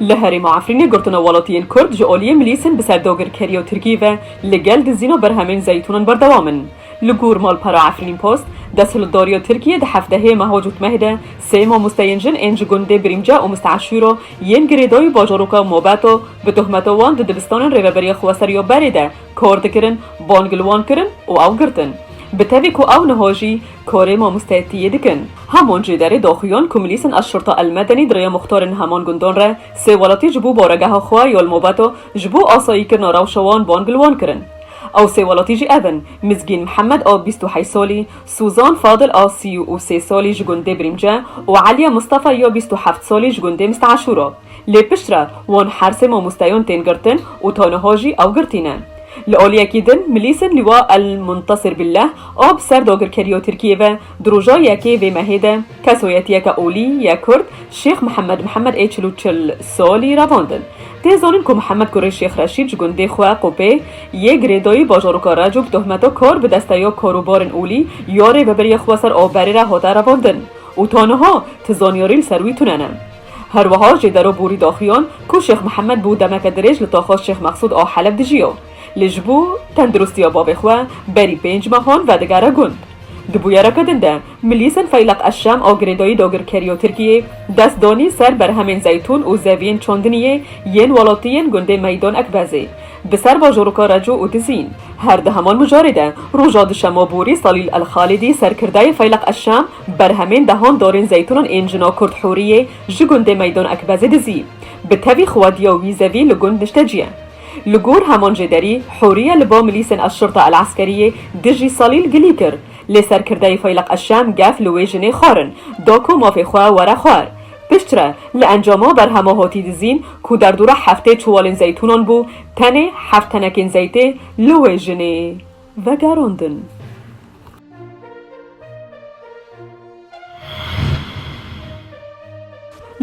Li herêma Efrînê girtina welatiyên Kurd ji aliyê milîsên bi ser dagirkeriya Tirkiyê ve li gel dizîna berhemên zeytûnan berdewam in. Li gor malpera Efrînpost, desthilatdariya Tirkiyê di hefteyê meha cotmehê de sê mamosteyên jin ên ji gundê Birîmce û Misteeşûro yên girêdayî û bajaroka Mobeta bi tohmeta wan di dibistanên Rêveberiya Xweser ya berê de kar dikirin bang li wan kirin û ew girtin. Bi tevî ku ew niha jî Korê mamosteyê ti yê dikin. Hamon jî derê daxuyan ku milîsên Eşşurta Elmedenî di rêya muxtarên heman gundan re sê welatî ji bo baregeha xwe ya li Mobeta ji bo asayîkirina rewşa wan van bi li wan kirin. Ew sê welatî jî ev in, Mizgîn Mihemed a bîst û heyt salî, Sûzan Fadil a sî û sê salî ji gundê Birîmce û Eliye Mistefa ya bîst û heft salî ji gundê Misteeşûr a. Lê piştre wan her sê mamosteyan tên girtin û taniha jî ew girtî ne. Li aliyekî din milîsên Lîwa El Muntasir Billeh a bi ser dagirkeriya Tirkiyê ve di roja yekê vê mehê de ke soyetiyeke olî ye kurd Şêx Mihemed Mihemed ê çil û çil salî revandin. Tê zanin ku Mihemed kurê Şêx Reşîd ji gundê xwe Qopê yê girêdayî bajaroka Reco bi tohmeta kar bi desteya karobarên olî ya rêveberiya xwe ser aw berê re hate revandin û ta niha ti zanyarî li ser wî tune ne. Her wiha jê dero borî daxiyan ku Şêx Mihemed bû demeke dirêj li taxa Şêx Meqsûd a Heleb dijiya. Lê ji bo tendirustiya bavê xwe berî pênc mehan vedigere gund. Di bûyereke din de milîsên Feyleq Eşşem a girêdayî dagirkerî ya Tirkiyê dest danî ser berhemên zeytûn û zeviyên çandiniyê yên welatiyên gundê Meydan Ekbezê di ser bajaroka Reco û Dizîn. Her di heman mijarê de roja duşema borî Salîl El Xalidî serkirdeyê Feyleq Eşşem Berhemên dehan dorên zeytûnan ên jina kurd Hûriyê ji gundê Meydan Ekbezê dizî. Bi tevî xwediya wî zevî li gund nişte cî ye. Li gor heman jê derî, Hûriye li ba milîsên Eşşurta Eleskeriyê dijî Salîl gilî kir. Lê serkirdeyê Feyleq Eşşem gef li wê jinê xwarin, da ku mafê xwe were xwar. Piştre, li encama berhema hotî dizîn ku derdora heftê çiwalên zeytûnan bû, tenê heft tenekên zeytê li wê jinê vegerandin.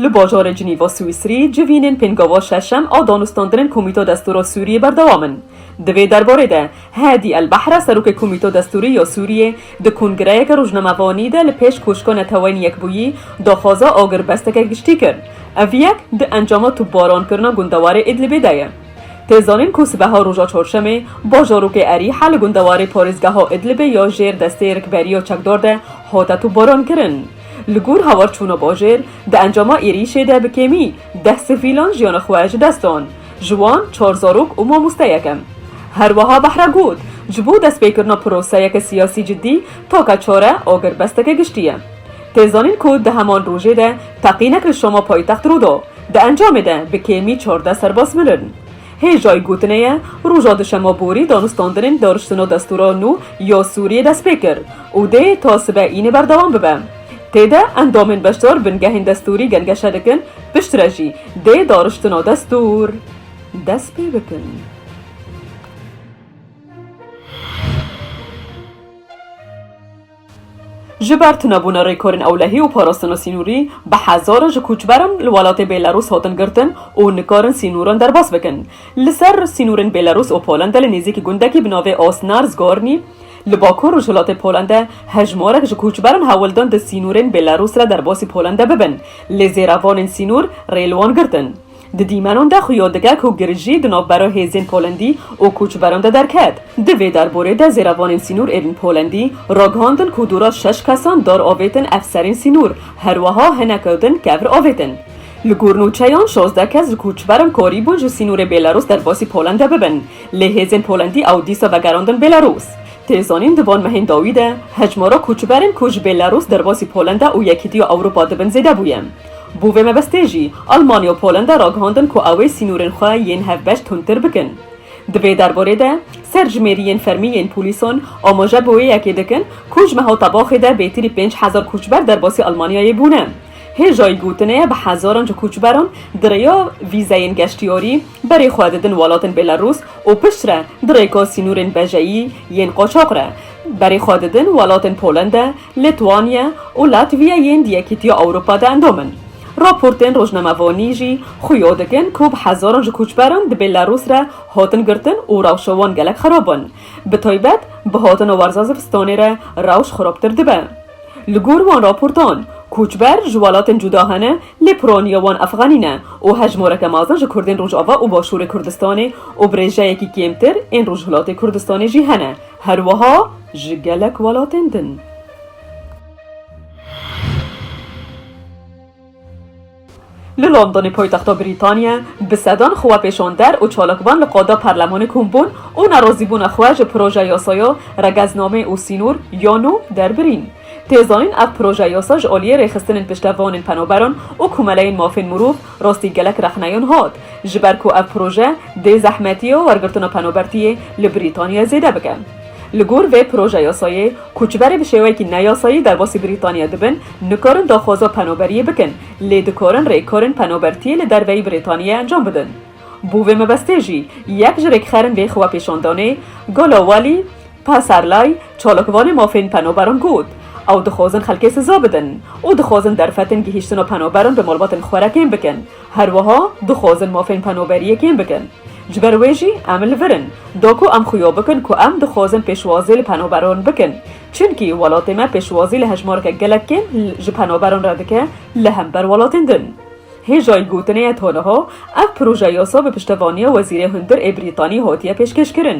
Li bajarê Cinîva Swîsrî civînên pêngava şeşem a danûstandinên Komîta Destûra Sûriyê berdewam in. Di vê derbarê de Hadi El Bahra serokê Komîta Destûrî ya Sûriyê di kongireyeke rojnamevanî de li pêş Koşka Neteweyên Yekbûyî daxwaza agirbesteke giştî kir. Ev yek di encama topbarankirina gundewarê Îdlibê de ye. Tê zanîn ku sibeha roja çarşemê bajarokê Erîha li gundewarê parêzgeha Idlibê ya jêr destê rikberiya çekdar de hate topbarankirin. Li gor hawarçûna bajêr, di encama êrîşê de bi kêmî deh sivîlan jiyana xwe ji dest dan, ji wan çar zarok û mamosteyek in. Herwiha Bahre got, Ji bo destpêkirina proseyeke siyasî cidî take çare agirbesteke giştî ye. Tê zanîn ku di heman rojê de teqînek li Şama paytext rû da, Di encamê de bi kêmî çardeh serbaz mirin. Hêjayî gotinê ye, roja duşema borî danûstandinên dariştina destûra nû ya Sûriyê dest pê kir û dê ta sibe înê berdewam bibe. Tê de endamên beşdar bingehên destûrî gengeşe dikin, piştre jî dê dariştina destûr dest pê bikin. Ji ber tunebûna rêkorên ewlehî û parastina sînorî, bi hezaran ji koçberan li welatê Bêlarûs hatin girtin û nikarin sînoran derbas bikin. Li ser sînorên Bêlarûs û Polendê li nêzîkî gundekî bi navê Osnars Gornî li bakor rojhilatê Polendê hejmarek ji koçberan hewl dan di sînorên Bêlarûs re derbasî Polendê bibin, lê zêrevanên sînor rê li wan girtin. Di dîmenan de xuya dike ku girijî di navbera hêzên Polandî û koçberan de derket. Di vê derborê de zêrevanên sînor ên Polandî ragihandin ku dora şeş kesan dar avêtin efserên sînor, herweha hineke din kevr avêtin. Li gor nûçeyan şazdeh kes ji koçberan karî bûn ji sînorê Bêlarûs derbasî Polanda bibin, lê hêzên Polandî ew dîsa vegerandin Bêlarûs. Tê zanîn di van mehên dawî de hejmara koçberên ku ji Bêlarûs derbasî Polanda û Yekîtiya Ewropa dibin zêde bûye. Bo vê mebestê jî Almanya û Polenda ragihandin ku ew ê sînorên xwe yên hevbeş tundtir bikin. Di vê derbarê de serjimêriyên fermî yên polîsan amaje bi wê yekê dikin ku ji meha tebaxê de bêtirî pênc hezar koçber derbasî Almanyayê bûne. Hêjayî gotinê bi hezaran ji koçberan di rêya vîzeyên geştyarî berê xwe didin welatên Bêlarûs û piştre di rêka sînorên bejeyî yên qaçax re berê xwe didin welatên Polenda, Litwanya û Latviya yên di Yekîtiya Ewropa de endam in. Raportên rojnamevanî jî xuya dikin ku bi hezaran ji koçberan di Bêlarûs re hatin girtin û rewşa wan gelek xerab in. Bi taybet bi hatina werza zivistanê re rewş xerabtir dibe. Li gor wan raportan, koçber ji welatên cuda hene lê piraniya wan efxenî ne û hejmareke mezin ji kurdên Rojava û Başûrê Kurdistanê û bi rêjeyekî kêmtir ên Rojhilatê Kurdistanê jî hene. Her wiha ji gelek welatên din. Li Londonê poytexta Brîtaniye bi sedan xwepêşander û çalakvan li qada Parlemanê kom bûn û nerazîbûna xwe ji proje yasaya Regezname û Sînor ya Nû derbirîn. Tê zanîn ev proje yasa ji aliyê rêxistinên piştevanên penaberan û komeleyên mafên mirov Rastî gelek rexneyan hat, ji ber ku ev proje dê zehmetiya wergirtina penabertiyê li Brîtanya zêde bike. Li gor vê projeyasayê, koçberê bi şêweyekî neyasayî derbasî Brîtanya dibin, nikarin daxwaza penaberiyê bikin, lê dikarin rêkarên penabertiyê li derveyî Brîtanyê encam bidin. Bo vê mebestê jî, yek ji rêkxerên vê xwepêşandanê, Gala Wally, Paserlay, çalakvanê mafên penoberan got, Ew dixwazin xelkê siza bidin û dixwazin derfetên gihîştina penoberan bi malbatên xwe re kêm bikin. Her wiha dixwazin mafên penoberiyê kêm bikin. Ji ber wê jî em li vir in. Da ku em xuya bikin ku em dixwazin pêşwazî li penoberan bikin. Çimkî welatê me pêşwazî li hejmareke gelek kêm ji penoberan re dike li hember welatên din. Hêjayî gotinê ye ta niha ev proje yasa bi piştevaniya Wezîrê Hundir ê Brîtanî hatiye pêşkêşkirin.